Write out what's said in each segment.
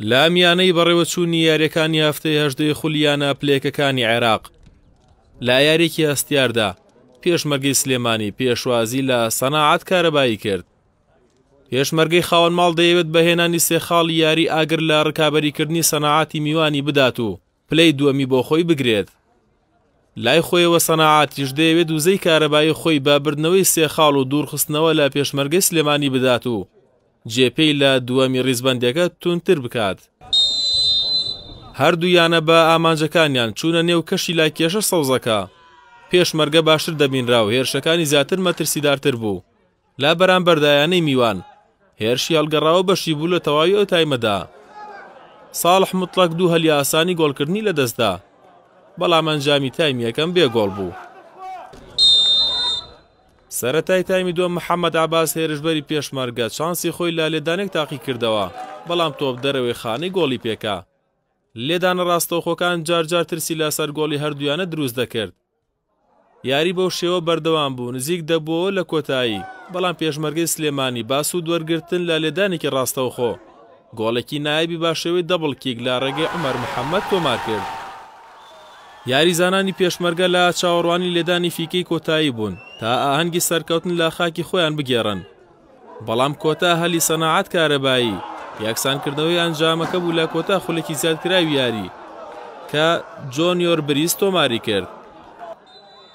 لە میانەی بەڕێوەچوونی یاریەکانی هەفتەی هەژدەی خولیانە پلێکەکانی عێراق لا یاریێکی هەستیاردا پێشمەرگەی سلێمانی پێشوازی لە سەناعات کارەبایی کرد پێشمەرگەی خاوەن ماڵ دەیەوێت بەهێنانی سێخاڵ یاری ئاگر لە ڕکابەریکردنی سەناعاتی میوانی بدات و پلەی دووەمی بۆ خۆی بگرێت. لای خۆیەوە سەناعاتیش دەیەوێت وزەی کارەبایی خۆی بە بردنەوەی سێ خاڵ و دوورخستنەوە لە پێشمەرگەی سلێمانی بدات و جێ پێی لە دووەمی ڕیزبەندەکە توندتر بکات. هەردوو یانە بە ئامانجەکانیان چوونە نێو کەشی لای کێشە سەوزەکە. پێشمەرگە باشتر دەبینرا و هێرشەکانی زیاتر مەترسیدارتر بوو. لە بەرامبەردا یانەی میوان هێرشی هەڵگەڕاوە بەشی بوو لە تەواوی ئەو تایمەدا ساڵح مطلق دوو هەلی ئاسانی گۆڵکردنی لە دەستدا بەڵام ئەنجامی تایم یەکەم بێ گۆڵ بوو سەرەتای تایمی دووەم محەممەد عباس هێرشبەری پێشمەرگە چانسی خۆی لە لێدانێک تاقی کردەوە بەڵام تۆپ دەرەوەی خانەی گۆڵی پێکا لێدانە ڕاستەوخۆکان جارجار ترسی لە سەر گۆڵی هەردویانە دروست دەکرد یاری بەو شێوە بەردەوام بوو، نزیک دەبووەوە لە کۆتایی، بەڵام پێشمەرگەی سلێمانی با سوود وەرگرتن لە لێدانێکی ڕاستەوخۆ، گۆڵێکی نایابی با شێوەی دەبڵ کیک لە ڕێگەی عومەر محەممەد تۆمار کرد. یاریزانانی پێشمەرگە لە چاوەڕوانی لێدانی فیکەی کۆتایی بوون، تا ئاهەنگی سەرکەوتن لە خاکی خۆیان بگێڕن، بەڵام کۆتا هەلی سەناعەت کارەبایی یەکسانکردنەوەی ئەنجامەکە بوو لە کۆتا خولەکی زیادکراوی یاری کە جۆنیۆر بریز تۆماری کرد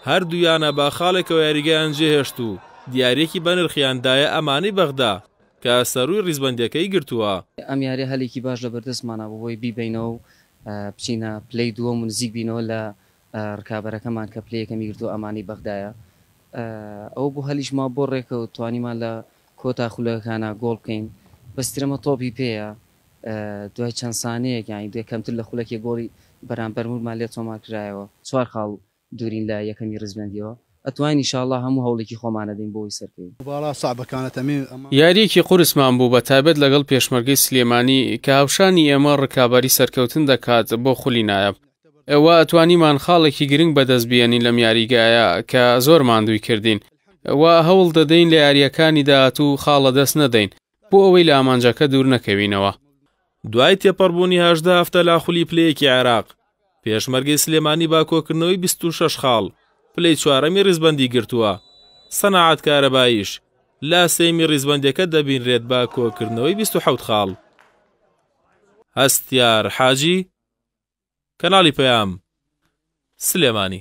هەردوو یانە بە خاڵێکەوە یاریگەیان جێهێشت و دیارێکی بەنرخیان دایە ئەمانی بەغدا کە سەرووی ڕیزبەندیەکەی گرتووە. ئەم یاریە هەلێکی باش لە بەردەستمانە بۆ هۆی بیبەینەوە و بچینە پلەی دووەم و نزیک بینەوە لە ڕکابەرەکەمان کە پلەی یەکەمی گرتووە ئەمانەی بەغدایە ئەوە بۆ هەلیشما بۆ ڕێکەوت توانیمان لە کۆتا خولەکەکانا گۆڵ بکەین بەس ترەمە تۆپی پێیە دوای چەند سانەیەک یانی دوای کەمتر لە خولەکێک گۆڵی بەرامبەرمورمان لێ تۆمار کرایەوە. چوار خاڵ دوورین لە یەکەمی ڕیزبەندیەوە ئەتوانین ان شاءاللە هەموو هەوڵێکی خۆمان ئەدەین بۆ ئەوەی سەرکەوین. یاریەکی قورسمان بوو بە تایبەت لەگەڵ پێشمەرگەی سلێمانی کە هاوشانی ئێمە ڕکابەری سەرکەوتن دەکات بۆ خولی نایاب. ئێوە توانیمان خاڵێکی گرنگ بەدەست بێنین لەم یاریگایە کە زۆر ماندووی کردین و هەوڵ دەدەین لە یاریەکانی داهاتوو خاڵە دەست نەدەین بۆ ئەوەی لە ئامانجەکە دوور نەکەوینەوە. دوای تێپەڕبوونی هەژدە هەفتە لە خولی پلەیەکی عێراق، پێشمەرگەی سلێمانی بە کۆکردنەوەی بیست و شەش خاڵ، پلەی چوارەمی ڕیزبەندی گرتووە. سەنعات کارەباییش لە سێیەمی ڕیزبەندییەکە دەبینرێت بە کۆکردنەوەی بیست و حەوت خاڵ. هەستیار حاجی. کەناڵی پەیام سلێمانی.